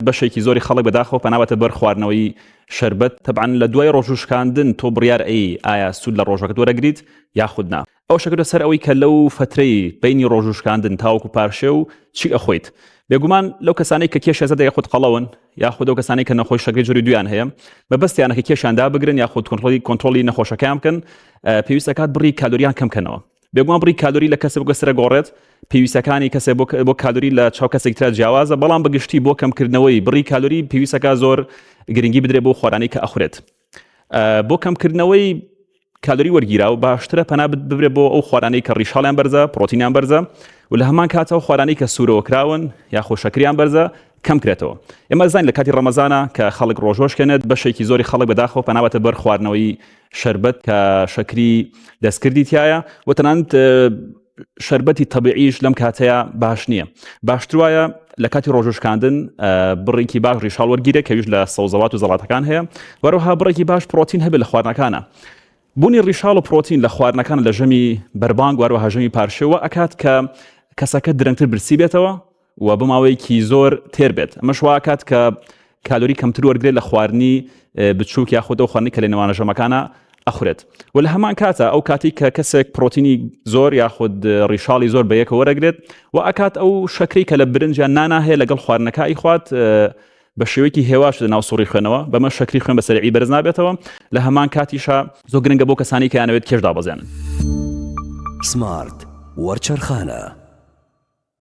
بەشێکی زۆری خەڵک بەداخەوە پەنا بەتە بەر خواردنەوەی شەربەت تەبعەن لە دوای ڕۆژ و شکاندن تۆ بڕیار ئەی ئایا سوود لە ڕۆژەکەت وەرەگریت یاخود نا ئەو شەکرە سەر ئەوەی کە لەو فترەی بینی ڕۆژ و شکاندن تاوەکو پارشێ و چی ئەخۆیت بێگومان لەو کەسانەی کە کێشێزە دەگە خود قەڵەون یاخود ئەو کەسانی کە نەخۆی شەکری جوری دویان هەیە مەبەستیانە کە کێشیان دابگرن یاخود کۆنتڕۆڵی کۆنترۆلی نەخۆشەکەیان بکەن پێویستەکات بڕی کالۆریان کەم کەنەوە بێگومان بڕی کالۆری لە کەسە بگەسرە گۆڕێت پێویستەکانی کەسە بۆ کالۆری لە چاو کەسێک تررا جیاوازە بەڵام بەگشتی بۆ کەمکردنەوەی بڕی کالۆری پێویستەکە زۆر گرنگی بدرێ بۆ خۆرانی کە ئەخورێت بۆ کەمکردنەوەی کالۆری وەرگیرا و باشترە پەنا ببرێ بۆ ئەو خۆرانی کە ڕیشاڵیان بەرزە پرۆتینیان بەرزە و لە هەمان کاتەوە خۆرانی کە سوورەوە کراون یاخۆ شەکریان بەرزە کەم کرێتەوە ئێمە ئەزانین لە کاتی ڕەمەزانە کە خەڵک ڕۆژۆ ئەشکێنێت بەشێکی زۆری خەڵک بە داخەوە پەنابەتە بەر خواردنەوەی شەربەت کە شەکری دەستکردی تایە و تەنانت شربەتی تەبیعیش لەم کاتەیە باش نییە باشتر وایە لە کاتی ڕۆژشکاندن بڕێکی باش ڕیشال وەرگیرە کەویش لە سەوزەوات و زەڵاتەکان هەیە وەرەها بڕێکی باش پرۆتین هەبێت لە خواردنەکانە بوونی ڕیشال و پرۆتین لە خواردنەکان لە ژەمی بەربانگ وارەوە هەژەمی پارشێوە ئەکات کە کەسەکە درەنگتر برسی بێتەوە و بۆ ماوەیەکی زۆر تێر بێت ئەمەش واکات کە کالۆری کەمتر وەرگێت لە خواردنی بچووک یا خۆدە خواردنی کە لە نێوانە ژەمەکانە ئەخورێت و لە هەمان کاتە ئەو کاتی کە کەسێک پرۆتینی زۆر یاخود ڕیشاڵی زۆر بەیەکە وەرەگرێت و ئەکات ئەو شەکری کە لە برنجیان ناناهەیە لەگەڵ خواردنەکە ئیخوات بە شێوەیەکی هێواش لە ناو سوڕی خوێنەوە بەمە شەکری خوێن بەسەرعی بەرز نابێتەوە لە هەمان کاتیشە زۆ گرنگە بۆ کەسانی کەیانەوێت کێشدا بەزێنن سمارت وەرچەرخانە.